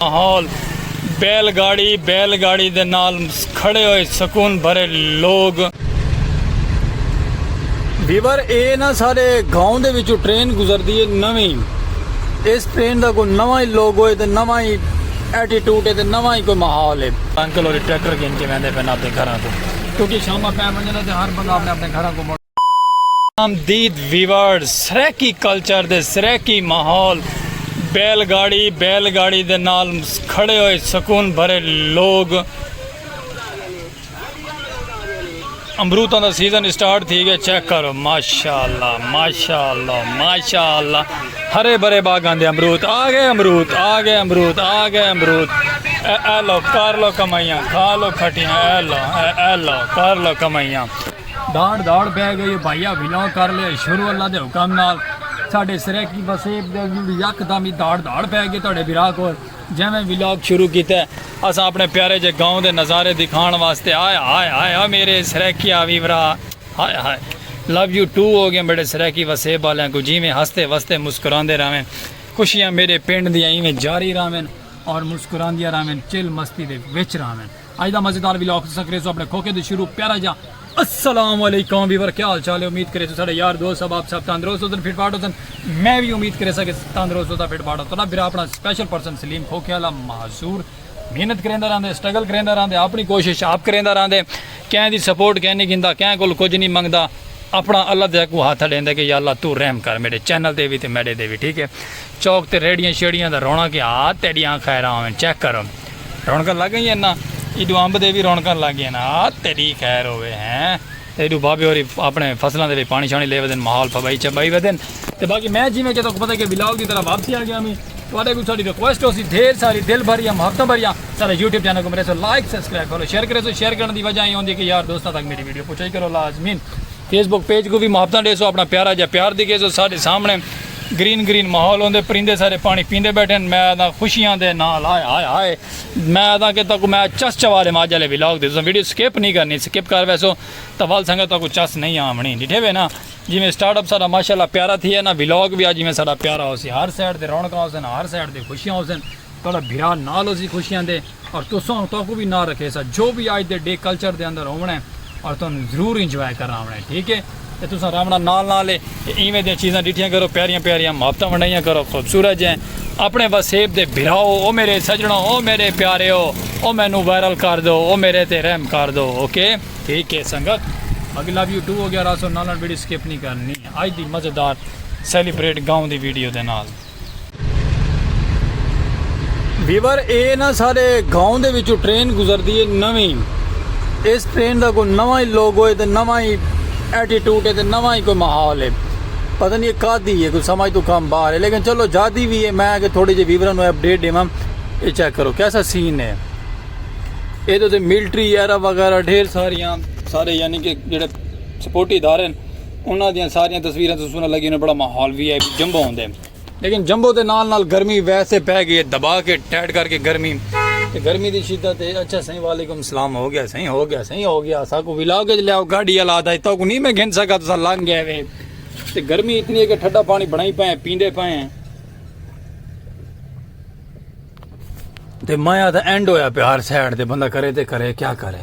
ماحول بیل گاڑی بیل گاڑی دے نال کھڑے ہوئے سکون بھرے لوگ بیور اے نا سارے گاؤں دے وچوں ٹرین گزر دی ہے نویں اس ٹرین دا کوئی نواں ہی لوگ ہوئے تے نواں ہی ایٹیٹوٹ ہے تے نواں ہی کوئی ماحول ہے انکل ہوری ٹریکٹر گھن کے ویندے پہ اپنے گھراں کو کیونکہ شامہ پہ ونجنا تے ہر بندہ اپنے اپنے گھراں کو آمدید ویورز سرائیکی کلچر دے سرائیکی ماحول بیل گاڑی بیل گاڑی دے نال کھڑے ہوئے سکون بھرے لوگ امروتاں دا سیزن سٹارٹ تھی گیا چیک کرو ماشاءاللہ ماشاءاللہ ماشاءاللہ ہرے بھرے باغاں دے امروت آ گئے امروت آ گئے امروت آ گئے امروت اے اے لو کر لو کمائیاں کھا لو کھٹیاں اے لو اے اے لو کر لو کمائیاں داڑ داڑ بہ گئی بھائیا ویلو کر لے شروع اللہ دے حکم نال ساڈے سریکی وسیب دے ویڈیو یک دم ہی داڑ داڑ بہ گئی تہاڈے بھرا کول جویں ویلاگ شروع کیتا ہے اسا اپنے پیارے جے گاؤں دے نظارے دکھان واسطے ہائے ہائے ہائے او میرے سریکی آوی ورا ہائے ہائے لو یو ٹو ہو گئے میرے سریکی وسیب والے کو جویں ہستے وستے مسکراندے راویں خوشیاں میرے پنڈ دی ایویں جاری راویں اور مسکراندیاں راویں چل مستی دے وچ راویں اج دا مزیدار ویلاگ تساں کریسو اپنے کھوکے دے شروع پیارا جا السلام علیکم ویور کیا حال چال ہے امید کریسو ساڈے یار دوست صاحب آپ صاحب تندرست ہوسن فٹ فاٹ ہوسن میں بھی امید کریسا کہ تندرست ہوتا فٹ فاٹ ہوتا برا اپنا سپیشل پرسن سلیم کھوکے والا معذور محنت کریندا رہندے سٹرگل کریندا رہندے اپنی کوشش آپ کریندا رہندے کہیں دی سپورٹ کہیں نہیں گھندا کہیں کول کچھ نہیں منگدا اپنا اللہ دے کو ہاتھ ڈیندے کہ یا اللہ تو رحم کر میرے چینل دے بھی تے میرے دے بھی ٹھیک ہے چوک تے ریڑھیاں شیڑھیاں دا رونق اے ہا تیڈیاں خیراں ہوون چیک کرو رونقاں لگ گئیاں نا ایڈو امب دے وی رونقاں لگ گئیاں نا ہا تیڈی خیر ہووے ہیں تے ایڈو بابے ہوری اپنے فصلاں دے وچ پانی شانی لے ودن ماحول پھبائی چھبائی ودن تے باقی میں جیویں کہ تہاکوں پتہ کہ ولاگ دی طرح واپسی آ گیاں وی تہاڈے کوں ساڈی ریکویسٹ ہوسی ڈھیر ساری دل بھریاں محبتاں بھریاں ساڈے یوٹیوب چینل کوں مریسو لائک سبسکرائب فالو شیئر کریسو شیئر کرن دی وجہ اے ہوندی کہ یار دوستاں تک میڈی ویڈیو پہنچائی کرو لازمین فیس بک پیج کوں وی محبتاں ڈیسو اپنا پیارا جا پیار دکھیسو ساڈے سامنے گرین گرین ماحول ہوندے پرندے سارے پانی پیندے بیٹھے ہیں میں آدھا خوشیاں دے نال ہائے ہائے ہائے میں آدھا کہ تاکو میں چس چوالے میں آج والے ولاگ دے تساں ویڈیو سکپ نہیں کرنی سکپ کر ویسو تو ول سنگت تاکو چس نہیں آمنی ڈٹھے وے نا جی میں سٹارٹ اپ سارا ماشاءاللہ پیارا تھی ہے نا ولاگ بھی آج میں سارا پیارا ہو سی ہر سائڈ دے رونقاں ہو سن ہر سائڈ دے خوشیاں ہو سن تھوڑا بھرا نال ہو سی خوشیاں دے اور تساں اوں تہاکوں وی نال رکھیساں جو وی اج دے ڈے کلچر دے اندر ہووݨا ہے اور تہاکوں ضرور انجوائے کرݨ آوݨا ہے ٹھیک ہے تے تساں رہوݨا نال نال ہے تے ایویں دیاں چیزاں ݙٹھیاں کرو پیاریاں پیاریاں محبتاں ونڈائیاں کرو خوبصورت جئیں اپݨے وسیب دے بھراؤ او میݙے سڄݨو او میݙے پیاریو او مینوں وائرل کر ݙو او میݙے تے رحم کر ݙو اوکے۔ ٹھیک ہے سنگت باقی لو یو ٹو ہو گیا راسو نال نال ویڈیو سکپ نہیں کرݨی اج دی مزیدار سیلیبریٹ گاؤں دی ویڈیو دے نال۔ ویور اے نا سارے گاؤں دے وچوں ٹرین گزردی ہے نویں اس ٹرین دا کوئی نواں ہی لوگو ہے تے نواں ہی ایٹیٹیوڈ ہے تے نواں ہی کوئی ماحول ہے پتہ نہیں کا دی ہے کوئی سمجھ تو کم باہر ہے لیکن چلو جادی بھی ہے میں کہ تھوڑی جی ویورن نو اپڈیٹ دیواں اے چیک کرو کیسا سین ہے اے تو تے ملٹری ایرا وغیرہ ڈھیر ساریاں سارے یعنی کہ جڑے سپورٹی ادارے ہیں انہاں دیاں ساریاں تصویراں توں سنہاں لگی انہاں بڑا ماحول وی آئی جمبو ہوندے لیکن جمبو دے نال نال گرمی ویسے پے گئی ہے دبا کے ٹیڈ کر کے گرمی تے گرمی دی شدت ہے اچھا سائیں وعلیکم سلام ہو گیا سائیں ہو گیا سائیں ہو گیا ساکو ولاگ وچ لیاؤ گاڑی والا آدا ہے تو کو نہیں میں گھن سکا تسا لنگ گئے وے تے گرمی اتنی ہے کہ ٹھڈا پانی بنائی پائیں پیندے پائیں تے مایا دا اینڈ ہویا پہ ہر سائیڈ تے بندہ کرے تے کرے کیا کرے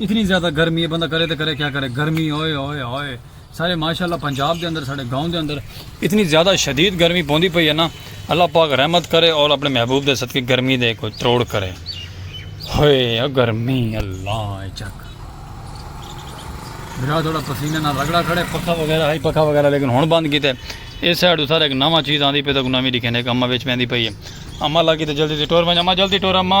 اتنی زیادہ گرمی ہے بندہ کرے تے کرے کیا کرے گرمی ہوئے ہوئے ہوئے سارے ماشاءاللہ پنجاب دے اندر سارے گاؤں دے اندر اتنی زیادہ شدید گرمی پوندی پئی ہے نا اللہ پاک رحمت کرے اور اپنے محبوب دے صدقے گرمی دے کوئی تروڑ کرے ہوئے گرمی اللہ چک برا تھوڑا پسینے نہ رگڑا کھڑے پکا وغیرہ ہے پکا وغیرہ لیکن ہن بند کیتے اس سائڈ سارے ایک نواں چیز آندی پئی تو نویں لکھے نے ایک اما وچ پیندی پئی ہے اما لگی تے جلدی سے ٹور ونج اما جلدی ٹور اما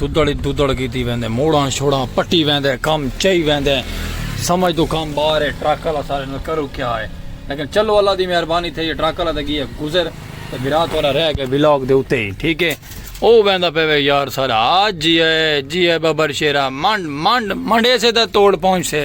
ددڑ ددڑ کیتی ویندے موڑاں شوڑاں پٹی ویندے کم چئی ویندے سمجھ تو کم باہر ہے ٹرک والا سارے نال کرو کیا ہے لیکن چلو اللہ دی مہربانی تھئی ٹرک والا تے گیا گزر تے بھرا تھوڑا رہ گئے ولاگ دے اوتے ہی ٹھیک ہے او ویندا پے وے یار سارا آج جی ہے جی ہے ببر شیرا منڈ منڈ منڈے سے تے توڑ پہنچ سے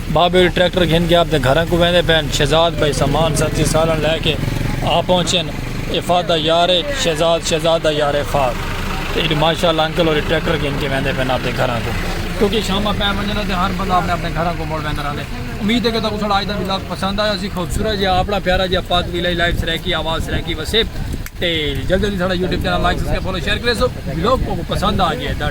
بابے ول ٹریکٹر گھن کے آپدے گھراں کوں ویندے پئن، شہزاد بھائی سامان سنتی سالݨ لے کے آ پہنچن، افات دا یار اے شہزاد، شہزاد دا یار افات تے ایڈی ماشاء اللہ انکل ہوری ٹریکٹر گھن کے ویندے پئن آپدے گھراں کوں کیونکہ شاماں پے ونجن دا تے ہر بندہ آپنے آپنے گھراں کوں مڑ ویندا رہندے امید اے کہ تہاکوں ساڈا اج دا ولاگ پسند آیا ہوسی خوبصورت جیہا آپنا پیارا جیہا پاک ویلہ لائیو سرائیکی آواز سرائیکی وسیب تے جلدی جلدی ساڈا YouTube channel like subscribe follow share کریسو ولاگ تہاکوں پسند آ گئے دا۔